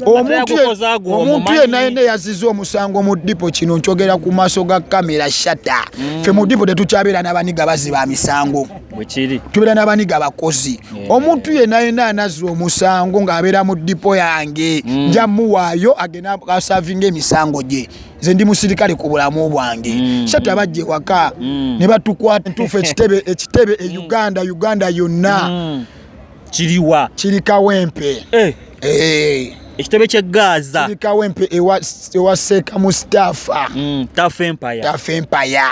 omuntu yenna yenna eyaziza omusango mu dipo kino nkyogera ku maaso ga kamera shata mm. fe mu dipo tetukyabeera n'abaniga baziba misango tubeera n'abaniga bakozi omuntu yenna yenna anazza omusango ng'abeera mu dipo yange mm. nja muwaayo agenda asavinga emisango gye nze ndi musirikale ku bulamu bwange mm. shata abajja ewaka ne batukwata ntuufu ekitebe e uganda uganda yonna kiriwa kiri kawempe eh. Eh. ekitebe kye gaaza kiri kawempe ewa seeka mustafa mm, tafa empaya tafa empaya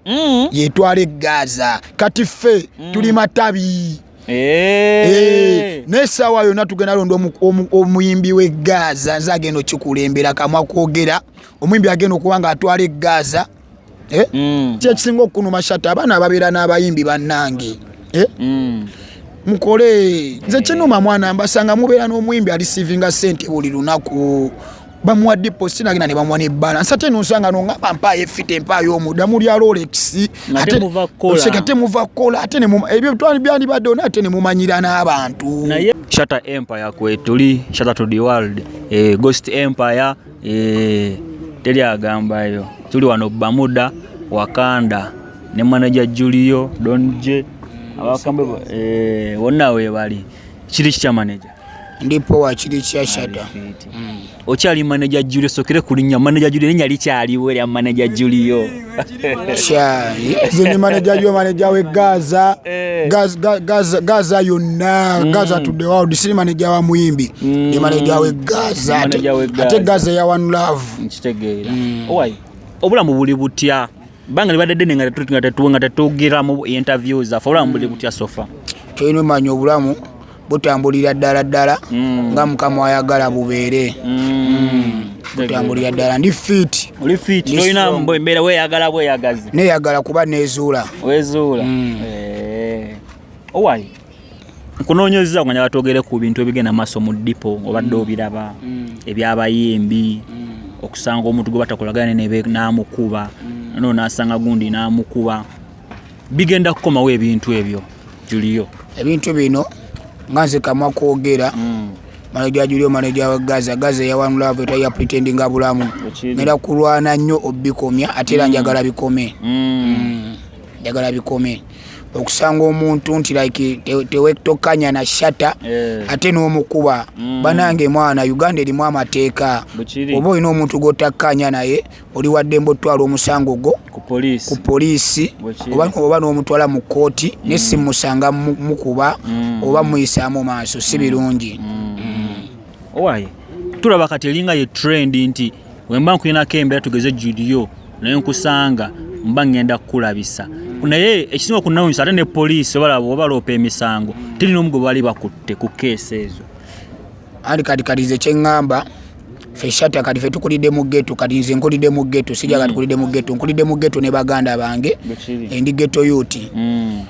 mm. yetwala egaaza kati ffe mm. tuli matabi Eh. naye saawa yona tugenda londa omuyimbi we gaza nze agenda okikulembera kamwa kwogera omuyimbi agenda okuba nga atwala egaza eh? mm. kyekisinga okunuma shata abaana ababeera n'abayimbi bannange eh? mm. mukole nze kinuma mwana mbasanga mubeera n'omuyimbi ali sivinga sente buli lunaku bamuwa deposit nagenda ne bamuwa nebalance ate nosanga nongamba mpaayo efite mpaayo omuda muli alolex oseka ate muva kukola ate ebyo byandibadde ona ate nemumanyira n'abantu shata empire kwetuli shata to the world eh, ghost empire Eh, teri agambayo tuli wano bamuda wakanda ne manaja julio don j abakambe eh, wonna webali kiri kitya manaja ndi powa kiri kya shada okyali manaja julio sokere kulinya manaja julio nenya likyaliwo erya manaja julio kyayi zenye maneja yo maneja we gaza eh. gaza gaza gaza yonna mm. gaza to the world siri maneja wa muyimbi mm. ni maneja we gaza ate gaza ya one love nkitegeera mm. owai obulamu buli butya banga libadde ddene nga tetuwe nga tetwogeramu interview zaffe obulamu buli butya sofa toyina omanya obulamu butambulira ddala ddala mm. nga mukama ayagala bubeere mm. mm. butambulira ddala ndi fit oli fit tolina mbeera weyagala bweyagazi neyagala kuba nezuula wezuula mm. eh. owali nkunoonyezza nga batwogere ku bintu ebigenda maaso mu dipo obadde mm. obiraba mm. ebyabayimbi mm. okusanga omuntu gwe batakolagane namukuba mm. no nasanga gundi namukuba bigenda kukomawo ebintu ebyo juliyo ebintu bino nga nze kamwa kwogera mm. manaja juliyo manaja wa gaza gaza eyawanula aveta ya pretendinga bulamu nera kulwana nnyo obikomya ate era mm. njagala bikome mm. njagala bikome okusanga omuntu nti like tewetokanya na shata eh. ate n'omukuba mm. banange mwana uganda erimu amateeka oba olina omuntu gwotakkanya naye oli waddembe otutwala omusango gwo ku poliisi oba n'omutwala mu kkooti mm. ne si musanga mukuba mm. oba muyisaamu maaso si mm. birungi owaye tulaba kati eringa ye trend nti wemba nkulinako embeera tugeze judiyo naye nkusanga mba ŋŋenda kukulabisa naye ekisinga okunawunyisa ate ne poliisi obalaba obaloopa emisango teri n'omu gwe bali bakutte ku keesi ezo anti kati kati nze kyeŋŋamba fe shata kati fe tukulidde mu geto kati nze nkulidde mu geto sija kati kulidde mu geto nkulidde mu geto ne baganda bange endi geto yuti mm.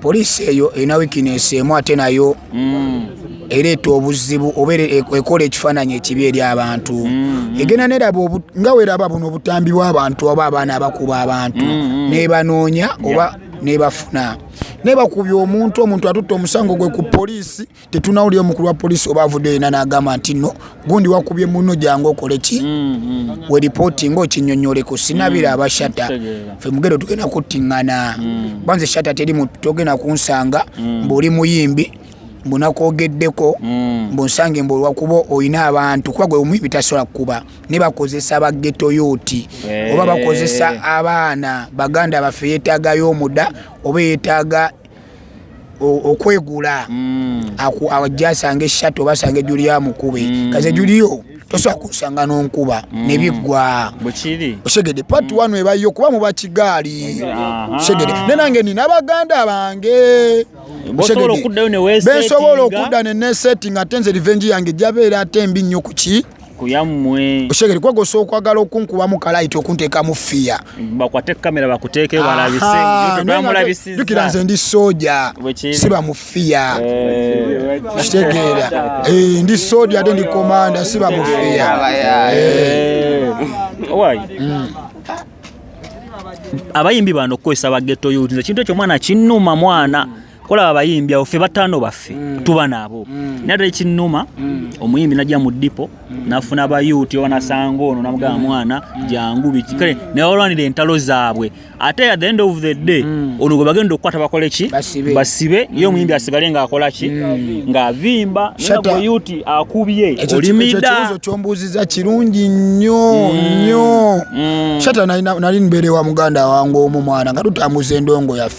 poliisi eyo erina wikinesi emu ate nayo mm. ereeta obuzibu oba e-, ekola ekifaananyi ekibi eri abantu mm, egenda neraba nga weraba buno obutambi bw'abantu oba abaana abakuba abantu nebanoonya oba nebafuna nebakubya omuntu omuntu atutte omusango gwe ku poliisi tetunawulira omukulu wa polisi oba avudde yena nagamba nti no gundi wakubye muno jangu okole ki mm, mm. we ripoti nga okinyonyoleko sinabira mm, abashata fe mugero tugenda kuttingana banze shata teri mutu togenda kunsanga mbuli muyimbi mbunakwogeddeko mbunsange mbu olwakuba olina abantu kuba gwe omuyimbi tasobola kukuba ne bakozesa bageto yoti eh. oba bakozesa abaana baganda baffe yetagayo omuda oba yetaga okwegula mm. ajja asanga eshatu oba asanga ejuli ya mukube mm. kaze juliyo tosobola kusanga nonkuba mm. nebiggwa osegede pati mm. wano ebayo kuba muba kigaali osegede ne nange nina abaganda bange bensobola okudda nenesetting ate nze revenge yange jabeera ate mbi nnyo kuki kuyammwe oshegere kwegosa okwagala okunkubamu kalayiti okunteekamu fiya bakwate kamera bakuteeke balabisejukira nze ndi soja siba mu fiya eh. kitegeera eh, ndi soja ate ndi komanda siba mu fiya eh. hmm. abayimbi bano okukozesa bageto yut ekintu ekyo mwana kinuma mwana mm. kola abayimbi awo ffe bataano baffe mm. tuba nabo mm. naye ate ekinnuma mm. omuyimbi najja mu dipo nafuna bayuuti oba nasanga ono namugamba mwana jangu biki kale naye olwanira entalo zaabwe ate at the end of the day ono gwe bagenda okukwata bakole ki basibe ye omuyimbi asigale ngaakola ki ngaavimba nagweyuti akubye olimidaikibuzo kyombuuziza kirungi nnyo nnyo shata nali mbeerewa muganda wange omu mwana nga tutambuza endongo yaffe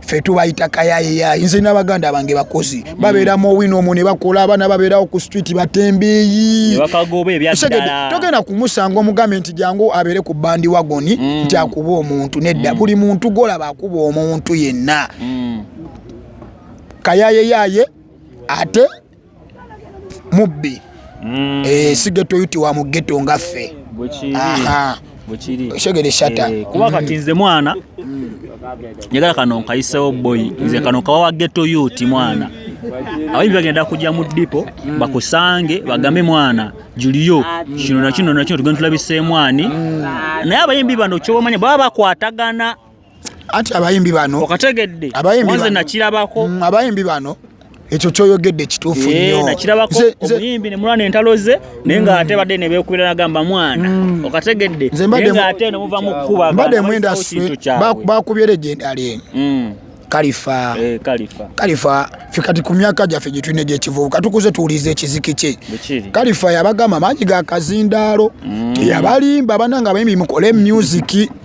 ffe tubayita kayayeya nze n'abaganda bange bakozi mm. babeera mu owino omwo ne bakola abaana babeerawo ku street batembeeyi togenda kumusanga omugambe nti jangu abeere ku bandi wagoni mm. nti akuba omuntu nedda mm. buli muntu golaba akuba omuntu yenna kayayeyaye ate mubbi mm. eh, sigeto yuti wa mugeto ngaffe oshegere shata eh, kuba kati nze mwana njagala kano nkayisewo boy nze kano kawa wa geto yuti mwana abayimbi bagenda kujja mu dipo mm. bakusange bagambe mwana juliyo kino nakino nakino tugenda tulabiseemwani mm. naye abayimbi bano kyobamanya baba bakwatagana anti abayimbi bano okategedde nze nakirabako mm, abayimbi bano ekyo kyoyogedde kituufu eh, nnyo nakirabako omuyimbi ne mulwana entalo ze naye nga mm. ate badde ne beekubira nagamba mwana mm. okategedde naye nga ate ne muva mu kukuba mbadde mwenda bakubyera egyendali eno eh, kalifa kalifa fe kati ku myaka gyaffe gye tulina egyekivubuka tukuze tuwuliza ekiziki kye kalifa yabagamba maanyi ga kazindaalo teyabalimba bananga abayimbi mukole musiki mm.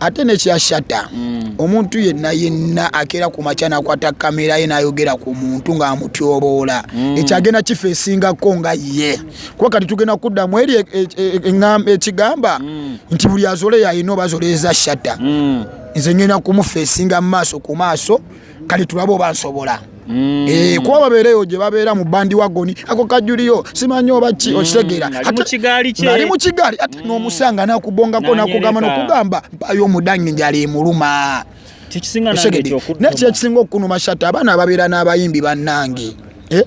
ate nekyashata mm. omuntu yenna yenna akeera ku makya nakwata kamera ye nayogera ku muntu ngaamutyoboola mm. ekyagenda kifa esingako nga ye kuba kati tugenda kuddamu eri e, e, e, ekigamba mm. nti buli azole yalina oba zoleeza shata nze ngenda kumufa esinga mumaaso ku maaso kale tulabe oba nsobola mm. eh, kuba babeereyo gye babeera mu bandi wagoni ako kajuliyo simanyi oba ki mm. okitegeera ali mu kigaali ate mm. n'omusanga nakubongako nakugamba nokugamba mpayo omudanyi njali emuluma naye kyekisinga okunuma shata abaana ababeera n'abayimbi bannange eh?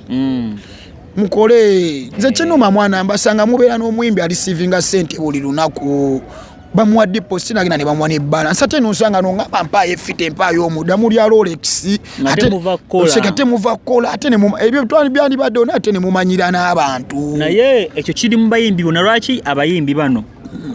mukole nze kinuma mwana mbasanga mubeera n'omuyimbi alisivinga sente buli lunaku bamuwa deposit nagenda ne bamuwa ne balance ate nosanga no ngamba mpaayo efite mpaayo omuda muli ya rolex ate muva kola oseka ate muva kola ate ne ebyo twali byali badde ona ate ne mumanyira n'abantu naye ekyo kiri mu bayimbi bona lwaki abayimbi bano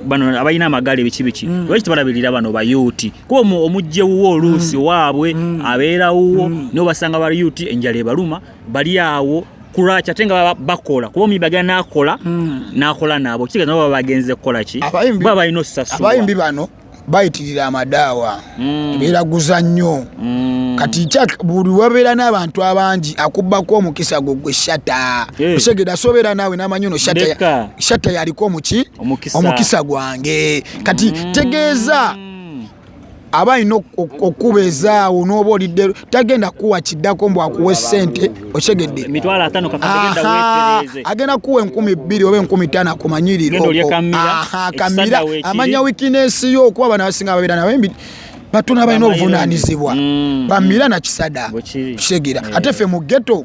bano abalina amagaali biki biki mm. lwaki tebalabirira bano bayuuti kuba omujje wuwo oluusi mm. waabwe mm. abeera wuwo mm. niobasanga bayuuti enjala ebaluma bali awo kulwaki ate nga bakola kuba omuyimbi agenda nakola hmm. nakola naabo kitegeeza nabo baba bagenze kukola ki baba balina osasulwa abayimbi bano bayitirira amadaawa hmm. beraguza nnyo hmm. kati buli wabeera n'abantu abangi akubbako omukisa gwo gwe shata eh. osegeda sobeera naawe namanyi ono shata yaliko omuki omukisa gwange kati tegeeza aba alina okukuba ezaawo n'oba olidde tagenda kuwa kiddako mbu akuwa esente okyegedde agenda kuwa enkumi bbiri oba enkumi tano akumanyirirokamira amanya wikinesi yo okuba bana basinga babeera nabo batono abalina obuvunanyizibwa mm. bamira nakisada kitegera ate fe mu geto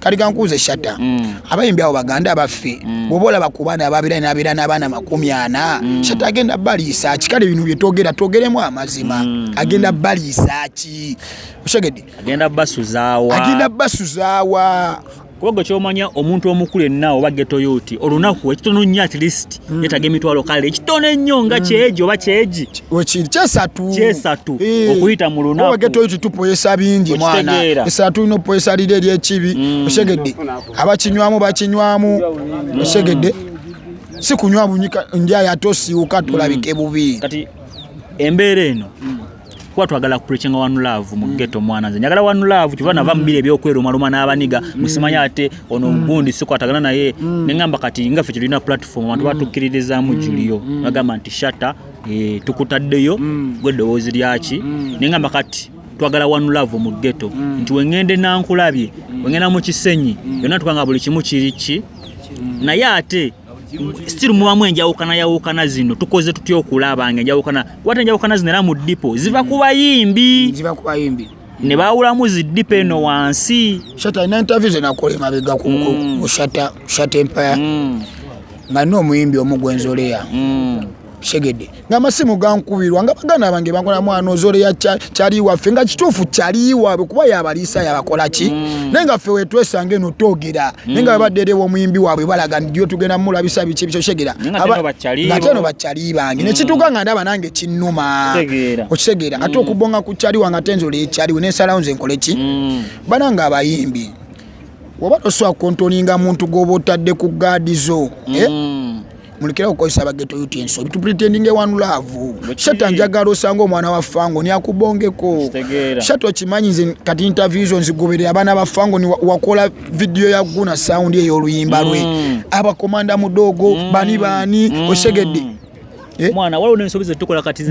kati gankuuze shatta mm. abayimbi awo baganda abaffe mm. bwoba olaba ku baana ababira nabeera n'abaana makumi ana mm. shatta agenda baliisa ki kale bino byetwogera twogeremu amazima agenda baliisa ki osegedde agenda basuzaawa agenda basuzaawa kubagwe kyomanya omuntu omukulu enna oba getoyoti olunaku ekitono nnyo at least mm. yetaga emitwalo kale ekitono ennyo nga mm. kyeji oba kyeji wekiri kyesatu kyesatu eh. okuyita mu lunaku obagete oyo tutupoyesa bingi mwana esatu tulina opoyesa liri eri ekibi mm. osegedde abakinywamu bakinywamu mm. osegedde si kunywa bunyika ndi ayo ate osiwuka tolabike mm. bubi kati embeera eno mm. kuba twagala kupreachinga one love mu mm. ghetto mwana nze njagala one love kiba nava mubile mm. byokwera omaluma n'abaniga mm. musimanya ate ono gundi sikwatagana naye nengamba kati nga ffe tulina platform abantu batukkiririzaamu julio bagamba nti shata eh, tukutaddeyo gwe eddoboozi lyaki nengamba kati twagala one love mu ghetto nti wengende nankulabye wengenda mu kisenyi yonna tukanga buli kimu kiriki naye ate still mubamu enjawukana yawukana zino tukoze tutya okulaba nga enjawukana kwata enjawukana zino era mu dipo ziva ku bayimbi ziva ku bayimbi ne baawulamu ziddipa eno wansi shata alina interview zenakola emabega ku mm. shata shata empire mm. nga nina omuyimbi omu gwenzoleya mm. segede nga amasimu gankubirwa nga baganda bange bankola mwana ozoleya kyali waffe nga kituufu kyali waabwe kuba yabaliisa yabakola ki mm. naye nga ffe wetwesanga eno twogera naye nga mm. babadde era ewomuyimbi waabwe balaga ndiyo tugenda mulabisa biki ebikyo segera ngate no bakyali bange mm. nekituuka nga ndaba nange kinnuma okitegeera ate okubonga ku kyali wange ate nzola ekyaliwe nensalawo nze nkole ki banange abayimbi oba tosobola kontoninga muntu gwoba otadde ku gaadi zo eh? mulekera okukozesa bageto yuti ensobi tupretendinge one love shata njagala osanga omwana wa fango niakubongeko shata okimanyi nze kati interview zo nzigoberera abaana ba fango niwakola vidiyo ya guna sound eyo oluyimba lwe mm. abakomanda mudogo mm. bani bani mm. osegedde eh? mwana waliwo nensobi zetukola kati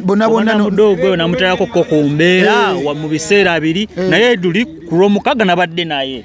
bonabonnamudogo oyo namutalako ko ku mbeera eh. mu biseera biri eh. naye duli kulwomukaga nabadde naye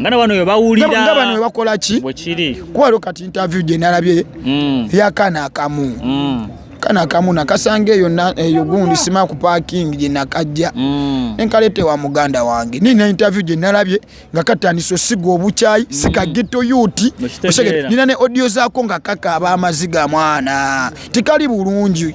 nga na bano webawulira nga bano webakola ki bwekiri kuba lwo kati interview gye nalabye mm. yakana akamu mm. kana akamu nakasanga eyo eyo gundi sima ku parking gye nakajja mm. nenkalete wa muganda wange nina interview gye nalabye nga katandisa osiga obukyayi mm. sika ghetto yuti nina ne audio zaako nga kaka aba amaziga mwana tikali bulungi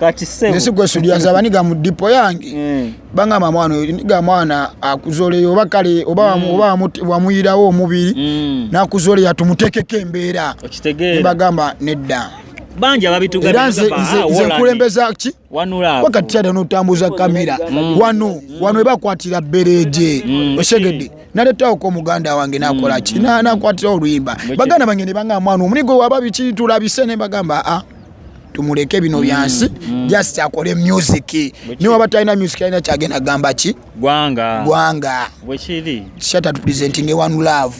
kati sebo nesi gwe sudi azaba niga mu dipo yange mm. banga mamwana niga mwana akuzole oba kale oba mm. oba wamuyirawo omubiri mm. na kuzole ya tumutekeke embera okitegera bagamba nedda bangi ababitugera nze nze ah, kulembeza ki wanula wakati chada no tambuza kamera mm. wano mm. wano eba kwatira bereje mm. osegede naleta oko muganda wange nakola mm. ki na nakwatira oluyimba bagana bangene banga mwana omunigo wababi kitula bisene bagamba a ah. tumuleke bino mm, byansi mm. just akole music niwe aba talina music alina kyagenda gamba ki gwanga gwanga bwekiri shata tupresenting one love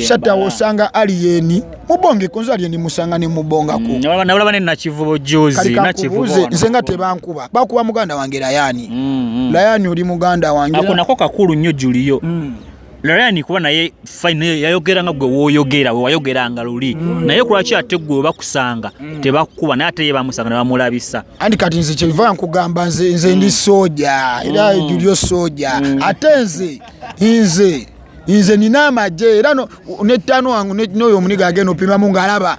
shata wosanga aliyeni mubonge kunza aliyeni musanga ne mubonga mm, ku nabulaba ne nakivubo juzi nakivubo nze nga tebankuba bakuba muganda wange layani mm, mm. layani oli muganda wange ako nako kakulu nyo juliyo mm. Ryan kuba naye fine yayogera nga gwe woyogera we wayogera nga luli mm. naye kulwaki ate gwe bakusanga mm. tebakukuba naye ate ye bamusanga ne bamulabisa andi kati nze kyeva nkugamba nze nze ndi mm. soja era mm. julio soja mm. ate nze nze nze nina amagye era nettaano wange noyo omuniga agenda opimamu ng'alaba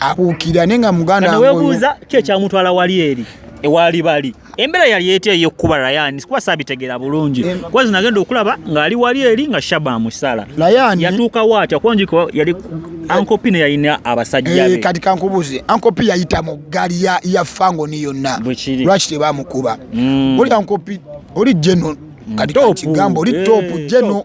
abuukira naye nga muganda nga newebuuza ki ekyamutwala wali eri ewaali bali embeera yali etya ey'okukuba rayani sikuba saabitegeera bulungi kuba zino agenda okulaba ng'ali wali eri nga shaba amusala rayani yatuukawo atya kuba njiko yali ankopi ne yalina abasajja be eh, kati kankubuuze ankopi yayita mu ggaali ya fangoni yonna lwaki tebamukuba mm. oli ankopi oli geno mm, kati kakigambo oli eh, topu geno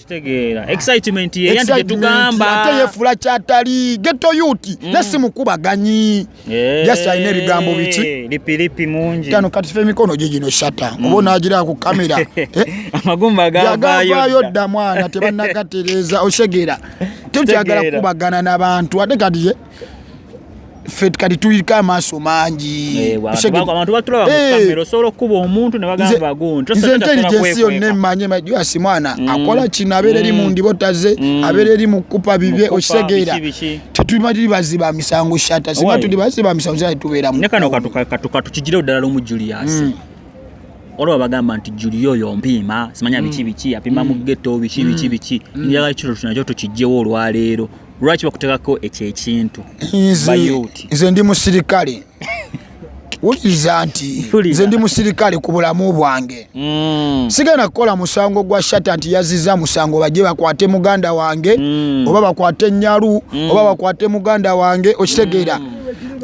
kitegeera excitement ye yandi tetugamba ate yefula kyatali ghetto youth mm. nasi mukubaganyi yeah. just alina ebigambo biki lipi lipi mungi tano kati fe mikono gye gino shata mm. obona agira ku kamera eh? amagumba gavayo dda mwana tebannagatereeza osegeera tekyagala kukubagana n'abantu ate kati ye eh? ffe kati tulika amaaso mangi eh, eh. osobola okukuba omuntu nebagambaguntinze intelligensi yonna emanye majuasi mwana mm. akola kino abeera eri mu mm. ndibotaze mm. abeera eri mu kukupa bibye okitegeera tetuli baziba misango shata singa tuli baziba misango shata tubeeramukatukatugireo ddala lumu julius olaba bagamba nti juli oyo mpiima simanya biki biki apima mu geto biki biki biki njagala kiro tunakyo tukijjewo olwaleero lwaki bakutekako ekyo ekintu nze ndi musirikale wuliriza nti nze ndi musirikale ku bulamu bwange mm. sigenda kukola musango gwa shata nti yaziza musango bajje bakwate muganda wange mm. oba bakwate enyalu mm. oba bakwate muganda wange okitegeera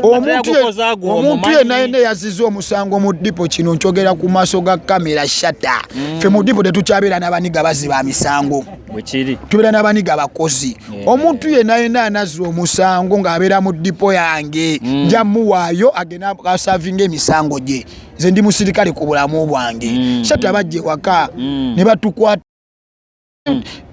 omuntu yena yena yaziza omusango mu dipo kino nkyogera ku maaso ga kamera shata fe mu dipo tetukyabeera n'abaniga baziba misango bwekiri tubeera n'abaniga abakozi eh. omuntu yena yena anazira omusango ng'abeera mu dipo yange mm. nja muwaayo agenda asavinga emisango gye nze ndi musirikale ku bulamu bwange mm. sati abajja ewaka mm. ne batukwata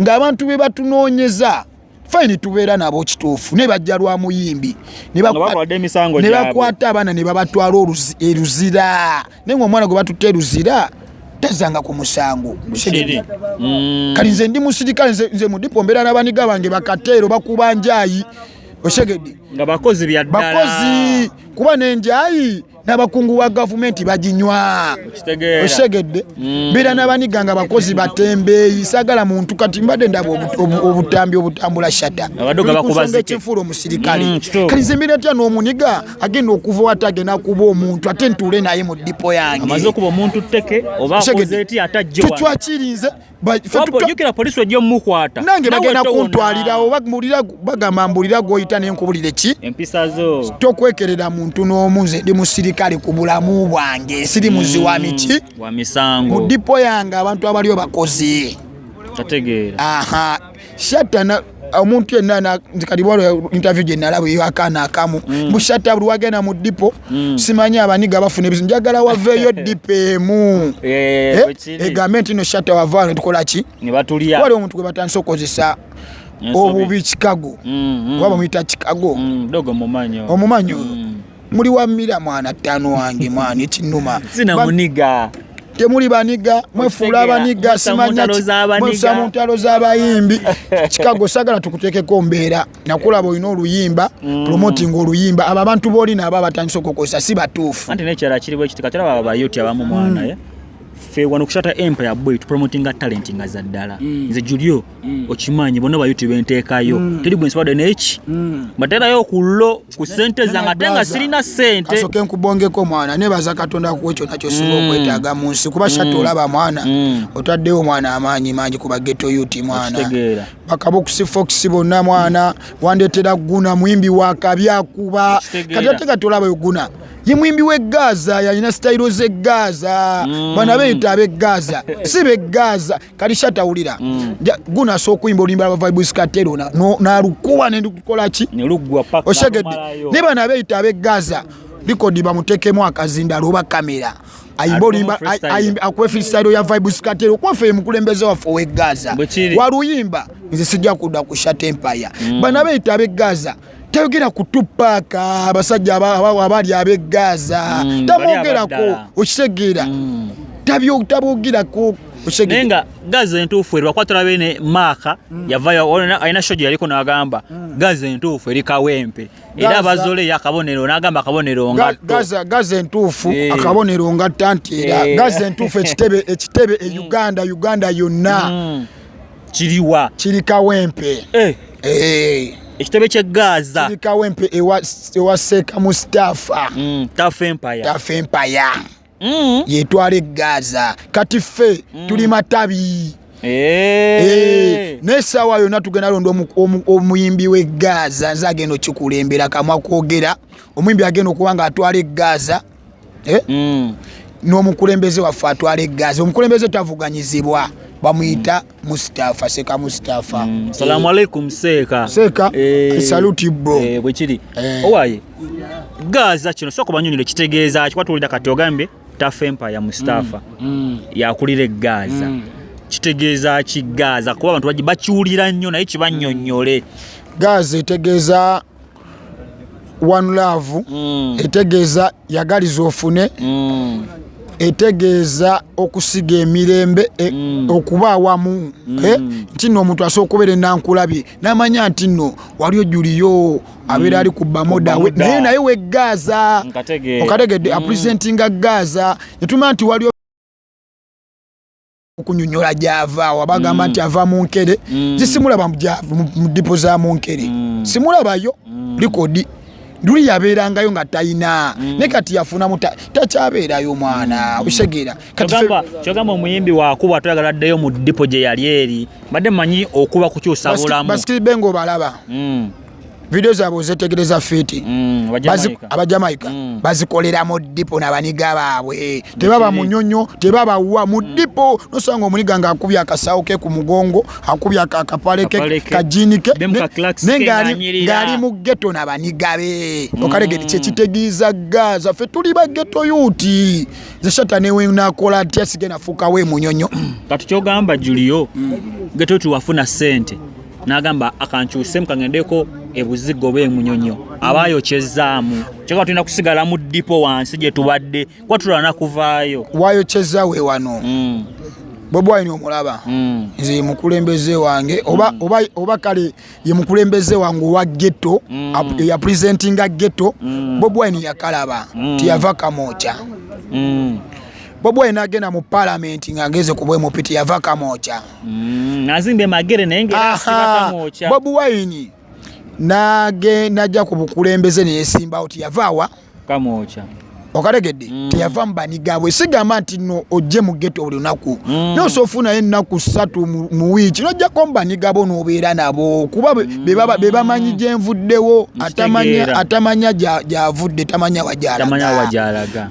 ng'abantu be batunoonyeza fayini tubeera nabo kituufu naye bajja lwa muyimbi ne bakwata abaana ne babatwala eruzira naye ngaomwana gwe batutte luzira tazanga ku musango mm. kati nze ndi musirikale nze mudipo mbeera nabaniga bange bakateero bakuba njayi osegedde nga bakozi byaddala bakozi kuba nenjayi n'abakungu wa gavumenti baginywa osegedde mm. mbeera n'abaniga nga bakozi batembeeyi sagala muntu kati mbadde ndaba obutambi obutambula shata ekyenfuula omusirikale mm, kati nze mbeera tya n'omuniga agenda okuva wata agenda kuba omuntu ate ntuule naye mu dipo yangetwakyirinze nange bagenda kuntwalirawo bagamba mbulira gwoyita nenkubulira ki tokwekerera muntu n'omu nze ndi musirikale ku bulamu bwange siri muzi wa mm, miki mu dipo yange abantu abaliyo bakozi aha shatana omuntu yenna nze kati bwala interview gye nalaba eyo akaana akamu mm. bushata buli wagenda mu dipo mm. simanyi abaniga bafuna ebizibu njagala waveeyo dipo emu eh, eh, eh, egambe nti no shata wavaano netukola ki wali omuntu gwe batandise okukozesa obubi chicago mm, oba bamuyita chicago omumanyo muli wa mira mwana ttaano wange mwana ekinuma sina muniga temuli baniga mwefuula abaniga simanyamwesa mu ntalo z'abayimbi kikago sagala tukutekeko mbeera nakulaba olina oluyimba mm. promoting oluyimba abo abantu boolina aba batandisa okukozesa si batuufu anti nekyala kiriwo ekitikatera baba bayoti abamu mwana mm. ye ffe wano kusata empire boy tupromotinga talenti nga za ddala mm. nze julio mm. okimanyi bona ba youtube nteekayo mm. teri gwe nsibadde neki mm. mbaterayo okullo ku sente zange ate nga sirina sente kasoke nkubongeko mwana nebaza katonda akuwa ekyo nakyo singa mm. okwetaaga mu nsi kuba shatta mm. olaba mwana mm. otaddewo mwana amaanyi mangi kuba geto ut mwana bakabukusi fox bonna mwana mm. wandetera guna muyimbi wakabi akuba kati ate kati olaba oguna ye mwimbi we gaza yalina sitayiro ze gaza mm. bana beyita abe gaza si be gaza kati shatawulira mm. guno asobola okuyimba oluyimba lwa vibes katero nalukuba nendukukolaki osegedde naye bano abeyita abe gaza likodi bamutekemu akazindalo oba kamera ayimba oluyimba akuba efirisairo ya vibes katero kwafe ye mukulembeze waffe owe gaza waluyimba nze sijja kudda ku shat empire mm. bano abeyita abe gaza tayogera ku tupaaka abasajja abaali ab'e gaaza hmm, tamwogerako okitegeera hmm. tabwogerako naye nga gazi entuufu eri bakwatula bene maaka mm. yavayo alina shogi yaliko nagamba mm. gazi entuufu eri kawempe era bazole yakabonero nagamba akabonero ngatgazi entuufu eh. akabonero ngatta nti era eh. gazi entuufu ekitebe ekitebe e eh. uganda uganda yonna mm. kiriwa kiri kawempe eh. Eh. ekitebe kye gaza kiri kawempe ewa seeka mustafa mm, tafa empaya tafa empaya mm. yetwala egaza kati ffe mm. tuli matabi Eh. naye saawa yona tugenda londa omuyimbi we gaza nze agenda okikulembera kamwa kwogera omuyimbi agenda okuba nga atwala egaza eh? mm. n'omukulembeze waffe atwala eggazi omukulembeze tavuganyizibwa bamuyita mustafa seeka mustafa mm. salamu aleikum seeka seeka eh, eh, saluti bro eh, bwekiri eh. owaye gaaza kino soka obanyonire kitegeeza kikwatulira kati ogambye tafa empaya mustafa mm. mm. yakulira egaaza mm. kitegeeza ki gaaza kuba abantu bakiwulira nnyo naye kibanyonyole mm. gaaza etegeeza one love mm. etegeeza yagaliza ofune mm. etegeeza okusiga emirembe e, mm. okuba awamu mm. eh, nti no omuntu asobola okubeera enankulabye namanya nti no wali ojuliyo abeera mm. ali ku bamoda naye naye we gaaza okategedde mm. apresentinga gaaza netuma nti wali okunyonyola gyava wa bagamba mm. nti ava mu nkere mm. zisimulaba mu dipo za mu nkere mm. simulabayo likodi luli yabeerangayo nga talina ne kati yafunamu takyabeerayo mwana okisegeera kyogamba omuyimbi wakuba toyagala ddeyo mu dipo gye yali eri mbadde manyi okuba kukyusa bulamu basitibe ngaobalaba video zaabwe ozetegereza fiti mm, abajamaika mm. bazikolera mu dipo nabaniga baabwe tebaba munyonyo tebaba wa mu mm. dipo nosanga omuniga nga akubya akasawo ke ku mugongo akubya akapale ke kajini ke nengaali mu geto nabaniga be okalegeti kyekitegeeza gaza fe tuli ba geto yuti zeshata newenakola atya sigenda fukawo emunyonyo kati kyogamba julio geto tiwafuna sente n'agamba akankyusemu kagendeko ebuzigo oba emunyonyo aba ayokyezaamu kyoka tulina kusigala mu dipo wansi gye tubadde kuba tulwana kuvaayo wayokyeza we wano mm. bobi wine omulaba mm. nze yemukulembeze wange mm. oba kale yemukulembeze wange owa getto eya presentinga getto bobi wine yakalaba tiyava kamokya bobi wine agenda mu palamenti ng'ageze ku bwemupiti yava kamokya mm, azimbe magere naye ngeasimatamuokya bobi wine nage najja ku bukulembeze neyesimbawo tiyavaawa kamwokya okategedde mm. teyava mubanigabwe sigamba nti no ojje mu geto buli lunaku mm. nosa ofunayo ennaku ssatu mu wiiki nojjako mubanigabo nobeera nabo kuba mm. bebamanyi gyenvuddewo atamanya gyavudde tamanya wajalaga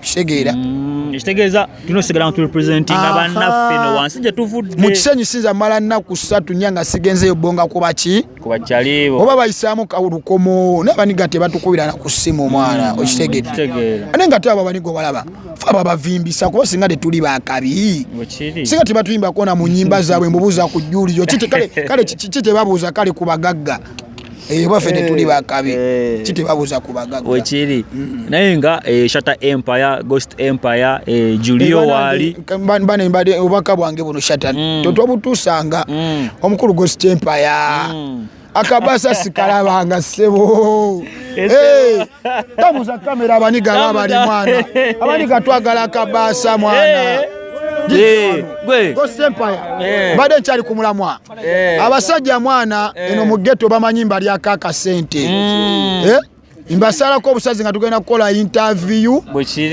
kitegeera mm, ekitegeeza tulina osigala nga turepresentinga bannaffe no wansi gye tuvudde mu kisenyi sinza mala nnaku ssatu nnya nga sigenzeyo bonga kuba ki kubakyalibo oba bayisaamu kawulukomo naye baniga tebatukubira na ku ssimu omwana mm, okitegedde ate nga te abo baniga obalaba fe ababavimbisa kuba singa tetuli bakabi singa tebatuyimbakona mu nyimba zaabwe mbubuuza ku jjulizo kale kiki tebabuuza kale ku bagagga eyo baffe tetuli eh, bakabi eh. kitebabuza ku bagagga wekiri mm. naye nga eh, shatter empire ghost empire julio wali bane mbade obaka bwange buno shatter mm. totwabutusanga mm. omukulu ghost empire akabasa sikalabanga sebo tabuza kamera abaniga aba bali mwana abaniga twagala akabaasa mwana eh. Eh, eh. mbadde nkyali ku mulamwa eh. abasajja mwana eno mu geto bamanyi mbalyako akasente mm. mbasalako obusazi nga tugenda kukola interview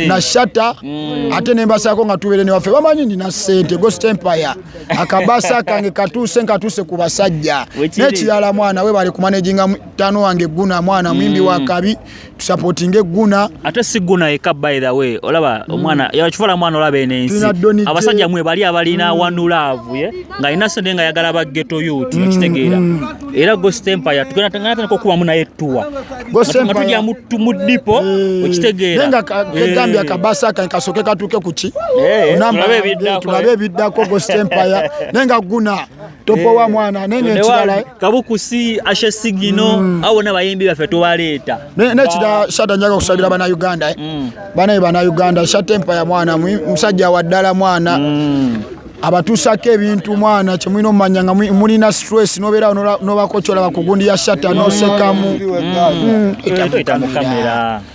na shata mm. ate nembasalako nga tubere newaffe bamanyi nina sente ghost empire akabasa kange katuuse nkatuuse ku basajja nekirala mwana we bali kumanaginga mutano wange guna mwana mwimbi mm. wa kabi tusapotinge guna ate si guna eka by the way olaba mm. omwana yakifuula mwana olaba eno ensi abasajja mwe bali abalina mm. wanu laavu ye nga alina sente nga ayagala ba geto yuti mm. okitegeera mm. era ghost empire tugenda tugenda tandika okubamu naye tuwa nga tujja mu mu dipo eh. okitegeera nga kegambya eh. kabasa kan kasoke katuke kuki eh, namba tulabe ebiddako ghost empire nenga guna topowa eh, mwana nene ekirala kabukusi ashe sigino mm. abo nabayimbi baffe tubaleeta nekirala shata njaga okusabira bana uganda eh. mm. banaye bana uganda shata empaya mwana musajja waddala mwana mm. abatuusako ebintu mwana kyemulina omumanya nga mulina stress nobeerawo nobakocyola bakugundi ya shata nosekamu mm. mm.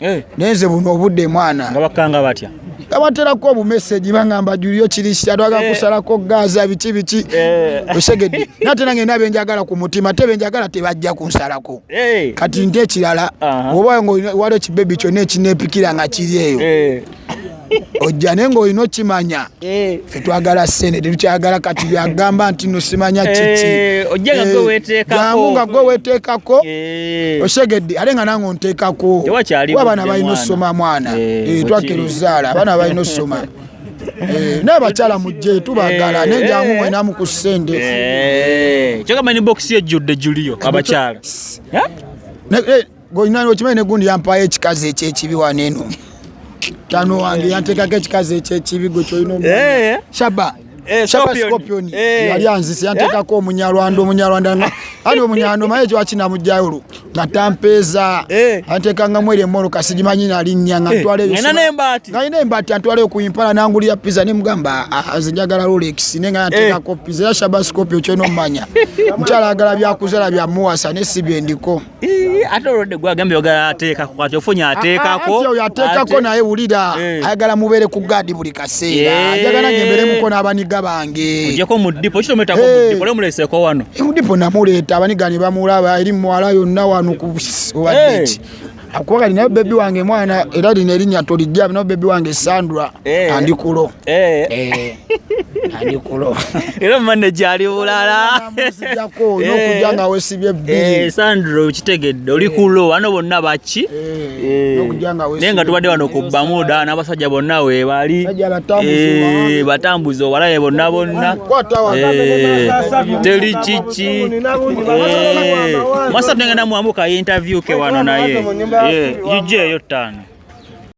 eh. naye nze buno obudde mwana nga bakanga batya abaterako obumeseji bangamba juliyo kirisia twaga eh. kusalako gaza biki biki eh. osegedde nate nange nabe njagala ku mutima te benjagala tebajja kunsalako eh. kati nte ekirala oba waliwo kibebi kyona ekinepikira nga kiri eyo ojja naye ngaolina okimanya eh. fe twagala sente tetukyagala kati byagamba nti nosimanya eh, kikiamu eh, nga gwe weteekako osegedde ate nga nange onteekako abaana balina osoma mwana twakira ozaala abaana balina osoma Eh, naye bakyala mujje tubagala eh. naye jangu mwena mu ku ssente eh. kyogamba ni bokisi ejjudde juliyo abakyala Goinani okimanyi ne gundi yampayo ekikazi ekyekibi wano eno. Tano wange yanteekako ekikazi ekyekibi gwe kyolina omu. Eh. Shaba. Eh, Shaba Scorpion. Eh. Yali anzise yanteekako omunyarwanda omunyarwanda nga ali omunyarwanda omaye ekyo akina mujayolo nga tampeeza anteekangamu eri emmoloka sigimanyi nalinnya nga ntwala ngalina embaati antwala okuimpala nangulira pizza ne mugamba ah, ah, nze njagala rolex ne nga yanteekako pizza era Shaba Scorpion kyona omumanya mukyala agala byakuzala byamuwasa ne si byendiko ate olwodde gwagambye ogala ateekako kati ofunye ateekako ah, ah, oyo ateekako naye wulira eh. ayagala mubeere ku gaadi buli kaseera eh. ayagala ngemberemuko n'abaniga bange ojeko mu dipo kitometako mu eh. dipo lemuleeseko wano mudipo namuleeta abaniga ne bamulaba eri muwala yonna wano ku owadeki akuba kati naye bebi wange mwana era lino erinnya tolijja naye bebi wange sandra andikulo Eh. Eh. era mane gyali bulalasanro eh. kitegedde oli kulo ano bonna baki naye nga tubadde wano ku bamuda n'abasajja bonna webali batambuza obalaye bonna bonna teli kiki masatu nengenda muwamuka interview ke wano naye ijja eyo ttaano